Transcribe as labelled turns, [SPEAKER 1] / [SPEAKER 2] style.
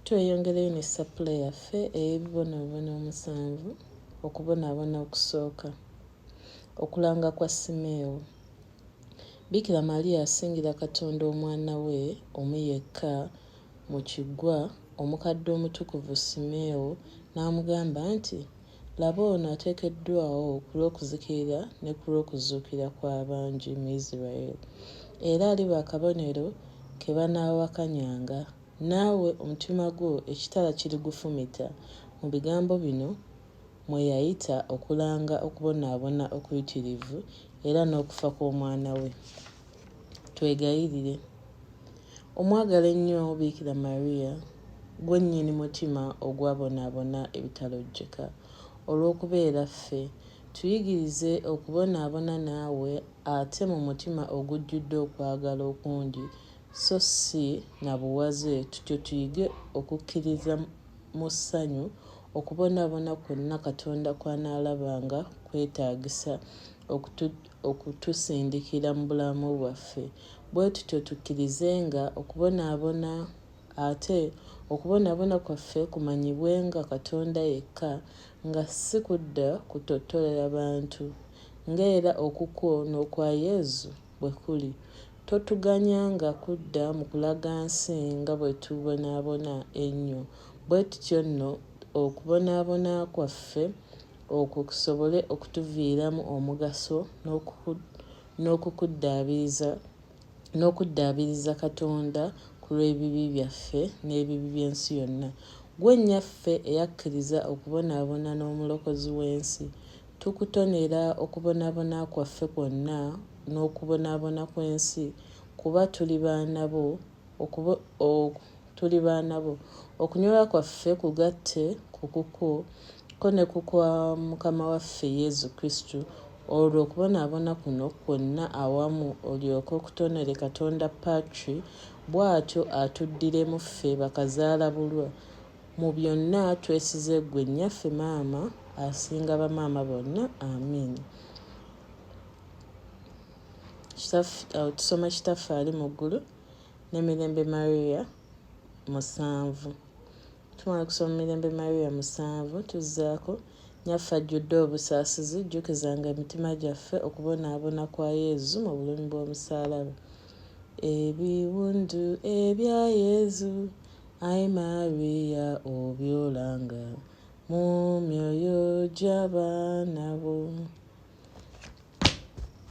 [SPEAKER 1] Tweyongereyo ne sappule yaffe ey'ebibonoobono omusanvu, okubonaabona okusooka, okulanga kwa Simeewo, Bikira Maria asingira Katonda Omwana we omu yekka mu Kiggwa, omukadde omutukuvu Simeewo n'amugamba nti, Laba ono ateekeddwawo ku lw'okuzikirira ne ku lw'okuzuukira kw'abangi mu Israel, era aliba akabonero ke banaawakanyanga, naawe omutima gwo ekitala kirigufumita, mu bigambo bino mwe yayita okulanga okubonaabona okuyitirivu era n'okufa kw'omwana we. Twegayirire. Omwagala ennyo Bikira Maria, gwe nnyini mutima ogwabonaabona ebitalojjeka. Olw'okubeera ffe, tuyigirize okubonaabona naawe ate mu mutima ogujjudde okwagala okungi so si na buwaze tutyo tuyige okukkiriza mu ssanyu okubonaabona kwonna Katonda kw'anaalaba nga kwetaagisa okutusindikira mu bulamu bwaffe, bwe tutyo tukkirizenga okubonaabona, ate okubonaabona kwaffe kumanyibwenga Katonda yekka, nga si kudda kutottolera bantu, nga era okukwo n'okwa Yezu bwe kuli. Totuganyanga kudda mu kulaga nsi nga bwe tubonaabona ennyo, bwe tutyo nno okubonaabona kwaffe Okwo kusobole okutuviiramu omugaso n'okukuddaabiriza n'okuddaabiriza Katonda ku lw'ebibi byaffe n'ebibi by'ensi yonna. Ggwe Nnyaffe eyakkiriza okubonaabona n'Omulokozi w'ensi, tukutonera okubonaabona kwaffe kwonna n'okubonaabona kw'ensi kuba tuli baana bo, okuba ok tuli baana bo okunyolwa kwaffe kugatte ku kukwo ko ne ku kwa mukama waffe yezu kristu olwo okubonaabona kuno kwonna awamu olyoke okutonere katonda patri bwatyo atuddiremu ffe bakazaala bulwa mu byonna twesize ggwe nnyaffe maama asinga bamaama bonna amiina. awo tusoma kitaffe ali mu ggulu ne mirembe maria musanvu tumala kusoma mirembe maria musanvu tuzzaako nyaffe ajjudde obusaasizi jjukizanga emitima gyaffe okubonaabona kwa yezu mu bulumi bw'omusaalaba ebiwundu ebya yezu ai maria obyolanga mu myoyo gy'abaana bo